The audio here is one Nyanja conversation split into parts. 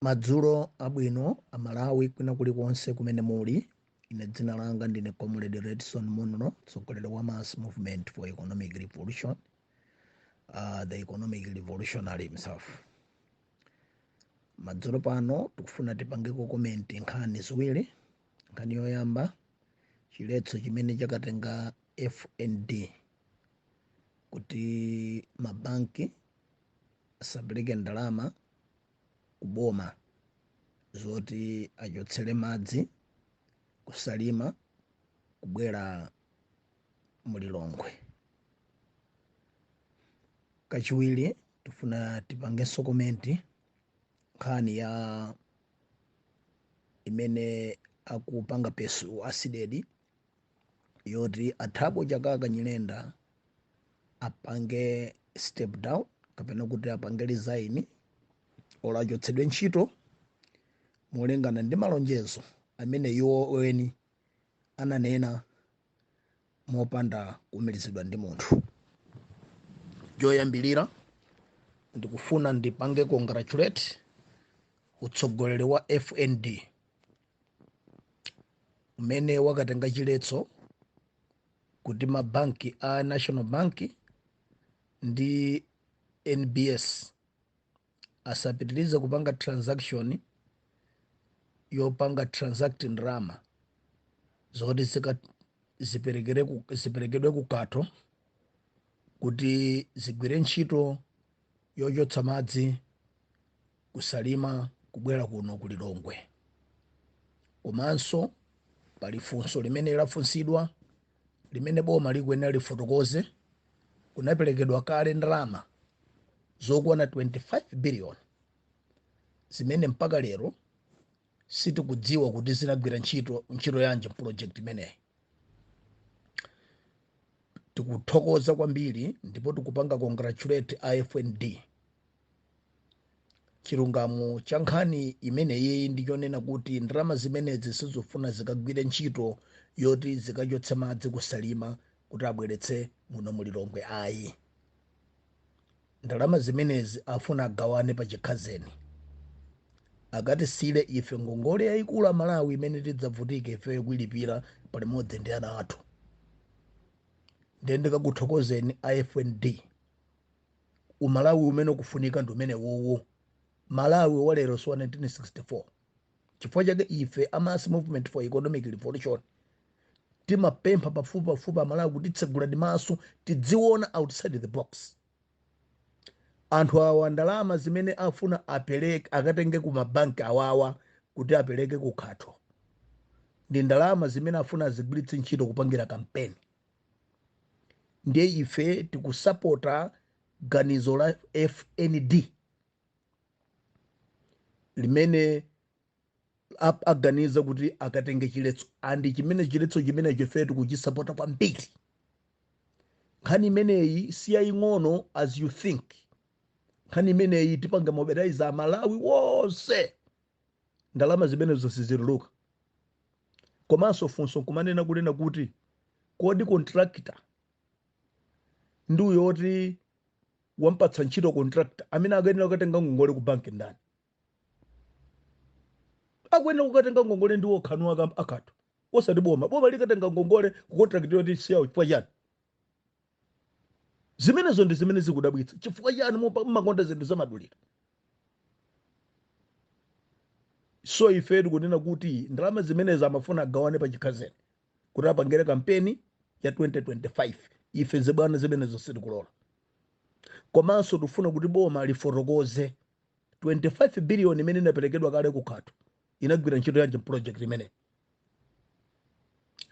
Madzulo abwino a Malawi kwina kulikonse kumene muli. Ine dzina langa ndine Comrade Redson Munro, mtsogoleri wa Mass Movement for Economic Revolution, uh, the Economic Revolutionary himself. Madzulo pano tikufuna tipangeko komenti nkhani ziwiri. Nkhani yoyamba chiletso chimene chakatenga FND kuti mabanki asapereke ndalama ku boma zoti achotsere madzi kusalima kubwera mu lilongwe kachiwiri tufuna tipangenso komenti nkhani ya imene akupanga pursue a CDEDI yoti a Thabo Chakaka Nyirenda apange step down kapena kuti apange resign or achotsedwe ntchito molingana ndi malonjezo amene iwo eni ananena mopanda kuumirizidwa ndi munthu choyambirira ndikufuna ndipange congratulate utsogoleri wa fnd umene wakatenga chiletso kuti mabanki a national bank ndi nbs asapitirize kupanga transaction yopanga transact ndalama zoti zika- ziperekere ku- ziperekedwe ku Khato kuti zigwire ntchito yochotsa madzi kusalima kubwera kuno ku lilongwe komanso pali funso limene lafunsidwa limene boma likuyenera lifotokoze kunaperekedwa kale ndalama zokwana 25 billion zimene mpaka lero sitikudziwa kuti zinagwira ntchito ntchito yanji mproject imeneyi tikuthokoza kwambiri ndipo tikupanga congratulate a FND chilungamo cha nkhani imeneyi ndi chonena kuti ndalama zimenezi sizofuna zikagwire ntchito yoti zikachotse madzi kusalima kuti abweretse muno mulilongwe ayi Ndalama zimenezi afuna agawane pa chikhazeni. Akatisiyire ife ngongole yaikulu a Malawi imene tidzavutike ifeyo kuilipira palimodzi ndi ana athu. Ndiye ndikakuthokozeni a FND. Umalawi umene ukufunika ndi umenewowo. Malawi wa lero si wa 1964. chifukwa chake ife a mass movement for economic revolution timapempha pafupipafupi amalawi kuti tsegulani maso tidziona outside the box anthu awa ndalama zimene afuna apereke akatenge ku mabanki awawa kuti apereke ku Khato ndi ndalama zimene afuna azigwiritse ntchito kupangira kampeni ndiye ife tikusapota ganizo la fnd limene ap- aganiza kuti akatenge chiletso and chimene chiletso chimenecho ife tikuchisapota kwambiri nkhani imeneyi si yaying'ono as you think nkhani imeneyi tipange mobilize amalawi wonse ndalama zimenezo sizituluka komanso funso kumanena kunena kuti kodi contractor ndi uyo woti wampatsa ntchito contractor amene akuyenera kukatenga ngongole ku banki ndani akuyenera kukatenga ngongole ndi a Kha- a Khato osati boma boma likatenga ngongole ku contract yoti siyawo chifukwa chani zimenezo ndi zimene zikudabwitsa chifukwa chani mupa- mumakonda zinthu zamadulira so ife tikunena kuti ndalama zimenezi amafuna agawane pa chikhazeni kuti apangire kampeni ya 2025 ife zibwana zimenezo sitikulola komanso tifuna kuti boma lifotokoze 25 biliyoni imene inaperekedwa kale ku Khato inagwira ntchito yanji project imene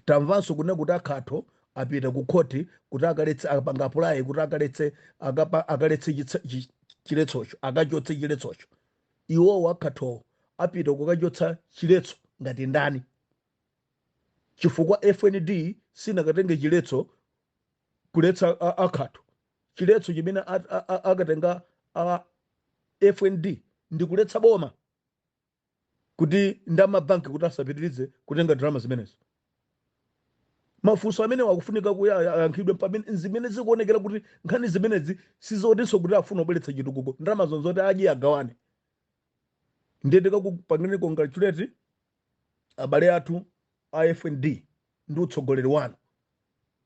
tamvanso kunena kuti a Khato apita ku khoti kuti akaletse apanga apply kuti akaletse akapa- akaletse chitsa- chi- chiletsocho akachotse chiletsocho iwowo a Khatowo apita kukachotsa chiletso ngati ndani chifukwa FND sinakatenge chiletso kuletsa a, a Khato. Chiletso chimene a- a- a- akatenga a FND ndi kuletsa boma kuti ndi amabanki kuti asapitirize kutenga ndalama zimenezo. Mafunso amene akufunika kuti aya- ayankhidwe pamene zimene zikuonekera kuti nkhani zimenezi sizotinso kuti afuna kubweretsa chitukuko ndalama zonsezo oti adye agawane. Ndiye tikupangireni congratulate abale athu a FND ndi utsogoleri wanu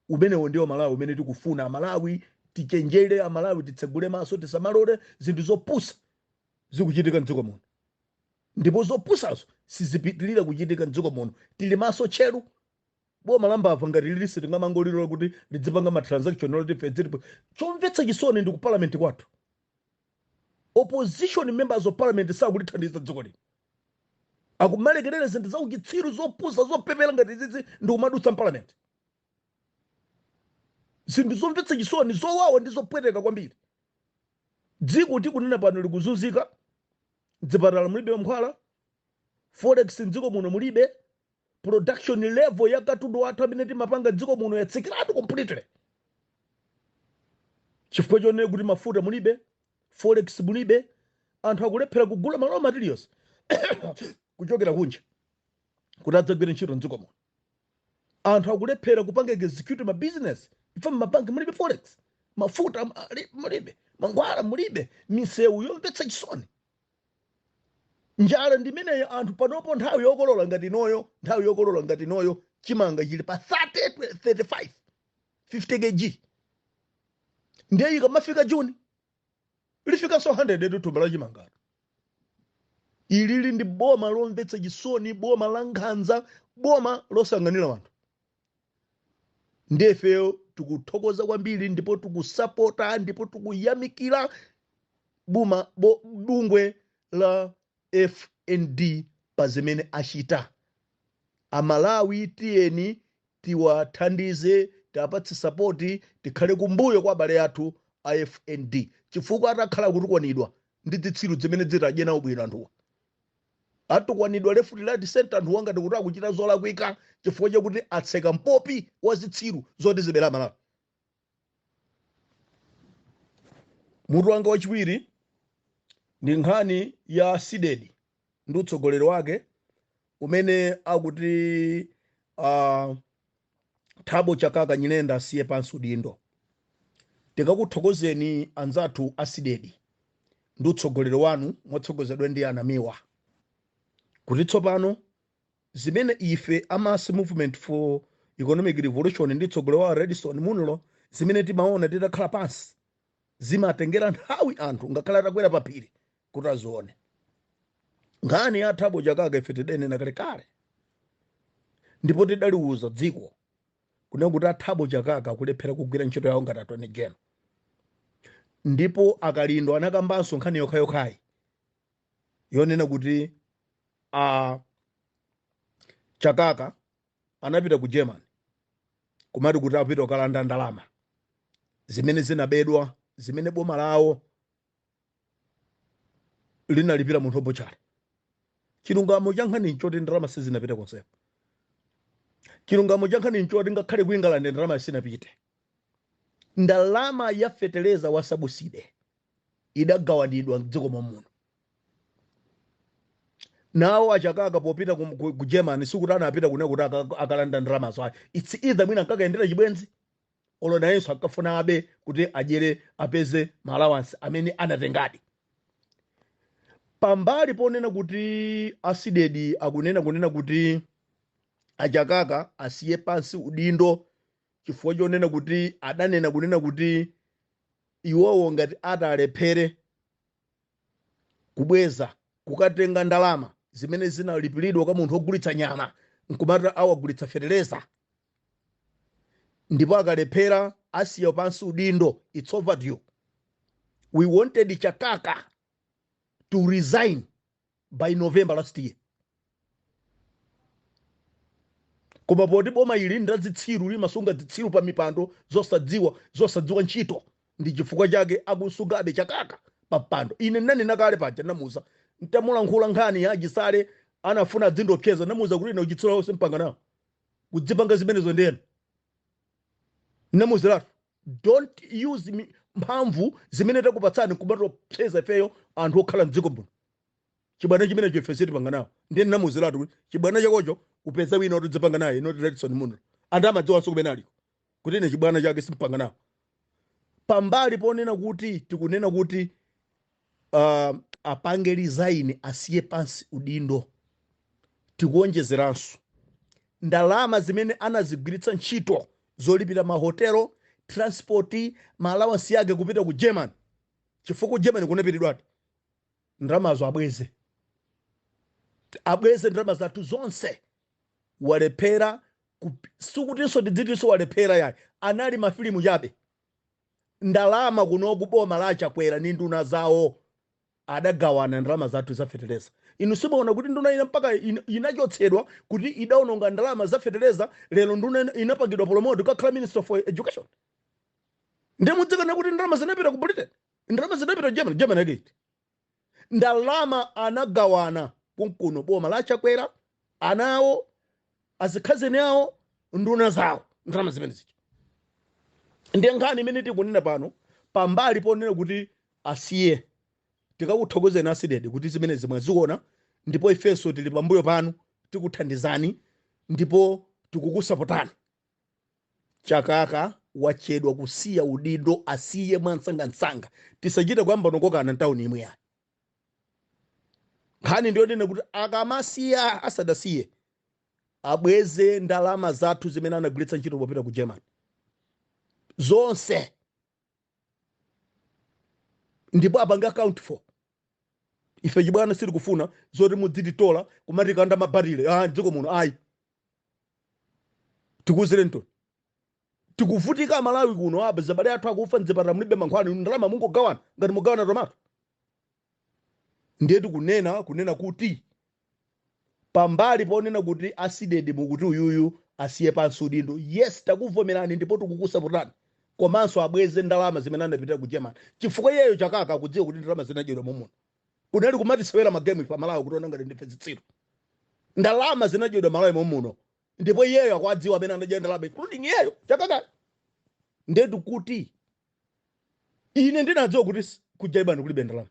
umenewo ndiwo Malawi umene tikufuna amalawi tichenjere amalawi titsegule maso tisamalole zinthu zopusa zikuchitika mdziko muno ndipo zopusazo sizipitirira kuchitika mdziko muno tili maso tcheru boma la mbava ngati ili sitingamangolilola kuti lidzipanga ma transaction oti ife tilipo chomvetsa chisoni ndi ku parliament kwathu opposition members of parliament sakulithandiza dziko lino akumalekerera zinthu za uchitsiru zopusa zopepera ngati izizi ndi kumadutsa m'palamenti zinthu zomvetsa chisoni zowawa ndi zopweteka kwambiri dziko tikunena pano likuzunzika dzipatala mulibe mankhwala forex mdziko muno mulibe production level ya katundu wathu amene timapanga dziko muno yatsikiratu completely chifukwa chonena kuti mafuta mulibe forex mulibe anthu akulephera kugula ma raw materials kuchokera kunja kuti adzagwire ntchito mdziko muno anthu akulephera kupanga execute ma business ifeyo mmabanki mulibe forex mafuta ali- mulibe mankhwala mulibe misewu yomvetsa chisoni njala ndimeneyo anthu panopo nthawi yokolola ngati inoyo nthawi yokolola ngati inoyo chimanga chili pa 30 35 50 kg ndiye ikamafika juni lifikanso 100 thumba la chimangatu ilili ndi boma lomvetsa chisoni boma la nkhanza boma losaganira anthu nde ifeyo tikuthokoza kwambiri ndipo tikusapota ndipo tikuyamikira buma bo, bungwe la fnd pa zimene achita amalawi tiyeni tiwathandize tiwapatse sapoti tikhale kumbuyo kwa abale athu a fnd chifukwa atakhale kutukwanidwa ndi zitsiru zimene zimadya nawo bwino anthuwa atukwanidwa left right center anthuwa ngati kuti akuchita zolakwika chifukwa chakuti atseka mpopi wa zitsiru zoti zizibera malawi mutu wanga wachiwiri ndi nkhani ya cdedi ndi utsogoleri wake umene akuti uh, Thabo Chakaka Nyirenda asiye pansi udindo. Tingakuthokozeni anzathu a Cdedi ndi utsogoleri wanu motsogozedwa ndi a Namiwa kuti tsopano zimene ife a Mass Movement for Economic Revolution ndi mtsogoleri wawo Redson Munlo zimene timaona titakhala pansi zimatengera nthawi anthu ngakhale atakwera paphiri kuti azione nkhani ya thabo chakaka ife tidanena kalekale ndipo tidaliuza dziko kunena kuti a thabo chakaka akulephera kugwira ntchito yawo ngati attorney general ndipo a kalindo anakambanso nkhani yokhayokhayi yonena kuti a chakaka anapita ku germany kumati kuti apita kukalanda ndalama zimene zinabedwa zimene boma lawo linalipira munthu wabutchale chilungamo cha nkhani nchoti ndalama sizinapite konsepo chilungamo cha nkhani nchoti ngakhale ku england ndalama sinapite ndalama ya feteleza wa sabuside idagawanidwa mdziko mwa muno nawo achakaka popita ku, ku, ku germany sikuti anapita kune kuti aka- akalanda ndalamazo ayi its either mwina ankakayendera chibwenzi olo nayenso ankafuna abe kuti adyere apeze maalawansi amene anatengadi pambali ponena kuti a CDEDI akunena kunena kuti achakaka asiye pansi udindo chifukwa chonena kuti adanena kunena kuti iwowo ngati atalephere kubweza kukatenga ndalama zimene zinalipiridwa kwa munthu wogulitsa nyama nkumati awagulitsa fetereza ndipo akalephera asiya pansi udindo it's overdue we wanted chakaka to resign by november last year koma poti boma ili ndi lazitsiru limasunga zitsiru pa mipando zosadziwa zosadziwa ntchito ndi chifukwa chake akumusungabe chakaka pa mpando ine nanena kale paja namuuza ntamulankhula nkhani ya achisale anafuna adzindopseza namuuza kuti ine uchitsiru onse simpanga nawo kudzipanga zimenezo ndiye namuuziratu don't use mi- mphamvu zimene takupatsani kumatopseza ifeyo anthu okhala mdziko muno chibwana chimenecho ife sitipanga nawo ndiye namuuziratu kuti chibwana chakocho upeza wina otidzipanga naye not redson munlo anthu amadziwanso kumene aliko kuti ine chibwana chake simpanga nawo pambali ponena kuti tikunena kuti uh, apange resign asiye pansi udindo tikuonjezeranso ndalama zimene anazigwiritsa ntchito zolipira mahotelo transport maalawansi yake kupita ku german chifukwa ku german kunapitidwadi ndalamazo abweze abweze ndalama zathu zonse walephera Kup, sikutinso tidzitinso walephera yayi, anali mafilimu chabe. Ndalama kunoku boma la Chakwera ndi nduna zawo adagawana ndalama zathu za fetereza. Inu simuona kuti nduna ina mpaka in, inachotsedwa kuti idaononga ndalama za fetereza, lero nduna ina- inapangidwa promote kukakhala Minister for Education. Ndiye mudzikanena kuti ndalama zinapita ku Britain, ndalama zinapita ku Germany, Germany yake iti? ndalama anagawana konkuno boma la chakwera ana awo azikhazeni awo nduna zawo ndalama zimene zija ndiye nkhani imene tikunena pano pambali ponena kuti asiye tikakuthokozeni a CDEDI kuti zimenezi mwaziona ndipo ifenso tili pambuyo panu tikuthandizani ndipo tikukusapotani chakaka wachedwa kusiya udindo asiye mwansangansanga tisachite kuyamba nkokokana ntawuni imwe yayi nkhani ndiyonena kuti akamasiya asadasiye abweze ndalama zathu zimene anagwiritsa ntchito popita ku germany zonse ndipo apange account for ife chibwana sitikufuna zoti mudzititola kumatikanda mabarile a dziko muno ayi tikuuzireni to tikuvutika amalawi kuno apa abale athu akufa mdzipatala mulibe mankhwala inu ndalama mungogawana ngati mugawana tomato ndiye tikunena kunena kuti pambali ponena kuti asidedi mukuti uyuyu asiye pansi udindo yes takuvomerani ndipo tikukusapotani komanso abweze ndalama zimene anapitira ku germany chifukwa iyeyo chakaka akudziwa kuti ndalama zinadyedwa momuno kunali kumatisewera magemu ife amalawi kutiona ngati ndife zitsiru ndalama zinadyedwa malawi momuno ndipo iyeyo akuwadziwa amene anadya ndalama including iyeyo chakakale ndetu kuti ine ndinadziwa kuti s- ku germany kulibe ndalama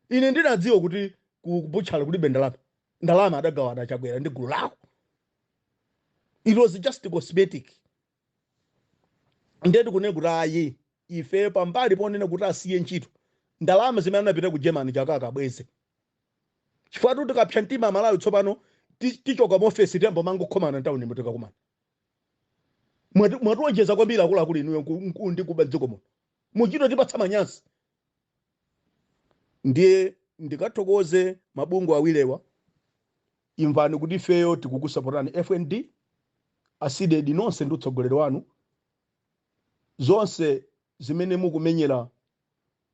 ine ndinadziwa kuti ku butchery kulibe ndalama ndalama adagawana chakwera ndi gulu lawo it was just cosmetic ndiye tikunena kuti ayi ifeyo pambali ponena kuti asiye ntchito ndalama zimene anapita ku germany chakaka abweze chifukwatu tikapsa mtima amalawi tsopano ti- tichoka mu ofesi tiyamba kumangokhomana ntawunimu tikakumana Mwati- mwatiwonjeza kwambiri akuluakulu inuyo nku- nku- ndi kuba mdziko muno muchito tipatsa manyazi Ndiye ndikathokoze mabungwe awirewa, imvani kuti ifeyo tikukusapotani FND, a Cdedi nonse ndi utsogoleri wanu, zonse zimene mukumenyera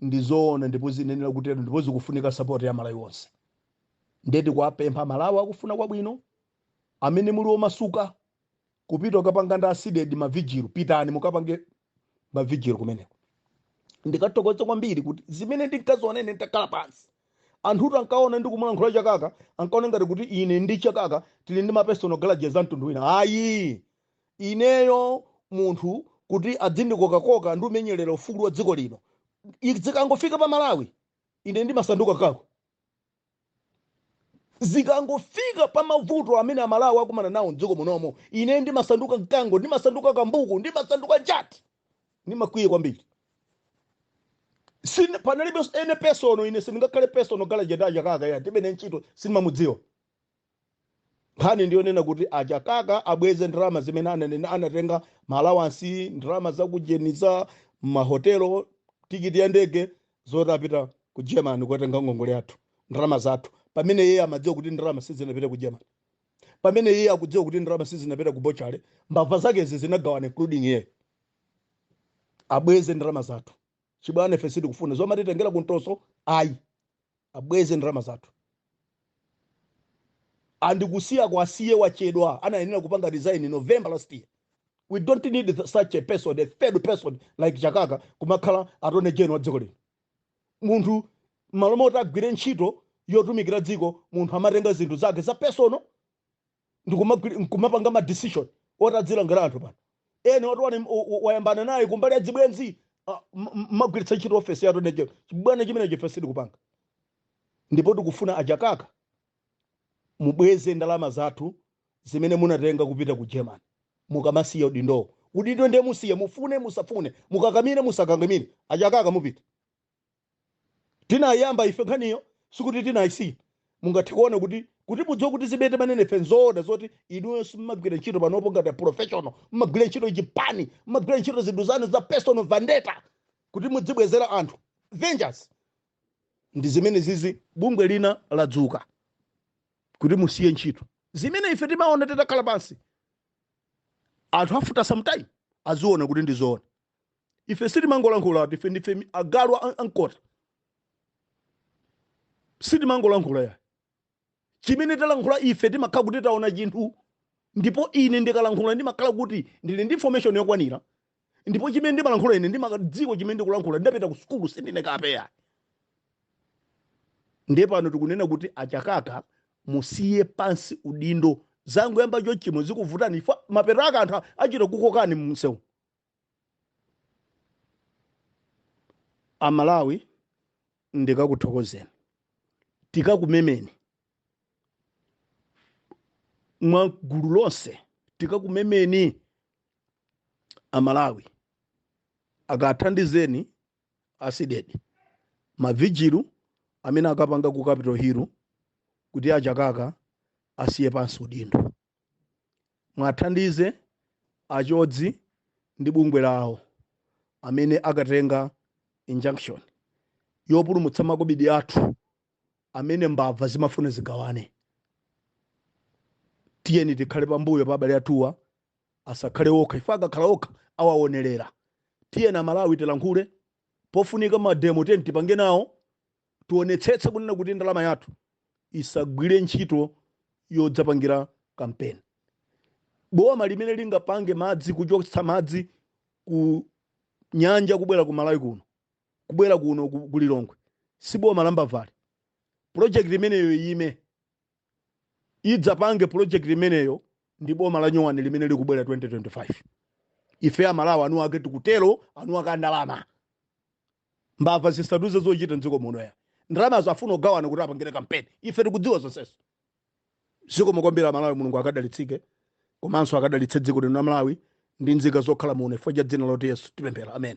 ndi zoona ndipo ziyenera kutero ndipo zikufunika sapoti ya Amalawi onse. Ndiye tikuwapempha Amalawi akufuna kwabwino, amene muli omasuka kupita kukapanga ndi asidedi mavigilu pitani mukapange mavigilu kumeneko ndikuthokoza kwambiri kuti zimene ndinkaziona ine nditakhala pansi anthutu ankaona ndikumulankhula chakaka ankaona ngati kuti ine ndi chakaka tili ndi mapersonal grudges a mtundu wina ayi ineyo munthu kuti adzindikokakoka ndi umenyerera ufulu wa dziko lino I- zikangofika pa malawi ine ndimasanduka kako zikangofika pa mavuto amene amalawi akumana nawo mdziko munomo ine ndimasanduka mkango ndimasanduka kambuku ndimasanduka njati ndimakwiya kwambiri Sine- panalibe any personal ine sindingakhale personal grudge nda chakaka ya tilibe ntchito sindimamudziwa nkhani ndiyonena kuti a chakaka abweze ndalama zimene ananena anatenga maalawansi ndalama zakujeniza mahotelo tikiti ya ndege zoti apita ku germany kukatenga ngongole yathu ndalama zathu pamene iye amadziwa kuti ndalama sizinapita ku germany pamene iye akudziwa kuti ndalama sizinapita ku butchery mbava zakezi zinagawana including iye abweze ndalama zathu chibwana ife sitikufuna zomatitengera kumtoso ayi abweze ndalama zathu and kusiyako asiye wachedwa anayenera kupanga resign in november last year we don't need th- such a person a third person like chakaka kumakhala attorney general wa dziko lino munthu m'malo moti agwire ntchito yotumikira dziko munthu amatenga zinthu zake za personal ndikumagwiri- nkumapanga ma decision oti adzilangira anthu amene wati wani- u- u- wayambana naye kumbali ya zibwenzi ah, m- m- mmagwiritsa ntchito ofesi ya attorney general chibwana chimenecho ife sitikupanga ndipo tikufuna achakaka mubweze ndalama zathu zimene munatenga kupita ku germany mukamasiya udindowo udindo ndiye musiye mufune musafune mukakamire musakakamire achakaka mupita Tinayamba ife nkhaniyo sikuti tinaisiya. Mungathe kuona kuti kuti mudziwe kuti zimene timanena ife nzoona zoti inuyo simumagwira ntchito panopo ngati a professional, mumagwira ntchito chipani, mumagwira ntchito zinthu zanu za personal vendetta kuti mudzibwezera anthu vengeance. Ndi zimene izi bungwe lina ladzuka kuti musiye ntchito. Zimene ife timaona titakhala pansi anthu after some time aziona kuti ndi zoona. ife sitimangolankhula ati ife ndife mi- agalu a- ankota sitimangolankhula ya chimene talankhula ife timakhala kuti taona chinthu ndipo ine ndikalankhula ndimakhala kuti ndili ndi information yokwanira ndipo chimene ndimalankhula ine ndimadziwa chimene ndikulankhula ndidapita ku sukulu sindine kapeya ndiye pano tikunena kuti achakaka musiye pansi udindo zangoyamba chonchi mwe zikuvutani apa mapeto ake anthu achita kukokani mumsewu amalawi ndikuthokozeni tikumemeni mwa gulu lonse tikumemeni amalawi kathandizeni a cdedi mavijilu amene akapanga ku capital hill kuti achakaka asiye pansi udindo muwathandize a chodzi ndi bungwe lawo amene akatenga injunction yopulumutsa makobidi athu amene mbava zimafuna zigawane tiyeni tikhale pambuyo pa abale athuwa asakhale okha ife akakhala okha awaonerera tiyeni amalawi tilankhule pofunika mademo tiyeni tipange nawo tionetsetse kunena kuti ndalama yathu isagwire ntchito yodzapangira kampeni boma limene lingapange madzi kuchotsa madzi ku nyanja kubwera ku Malawi kuno kubwera kuno ku ku Lilongwe si boma la mbavali pulojekiti imeneyo iyime idzapange pulojekiti imeneyo ndi boma la nyowani limene likubwera 2025 ife Amalawi eniake tikutero eniake a ndalama Mbava zisatiuze zochita mdziko muno ya. Ndalamazo afuna kugawana kuti apangire kampeni. Ife tikudziwa zonsezo. Zikomo kwambiri a Malawi Mulungu akudalitseni komanso akadalitse dziko lino la Malawi ndi nzika zokhala muno chifukwa cha dzina loti Yesu tipemphera. Amen.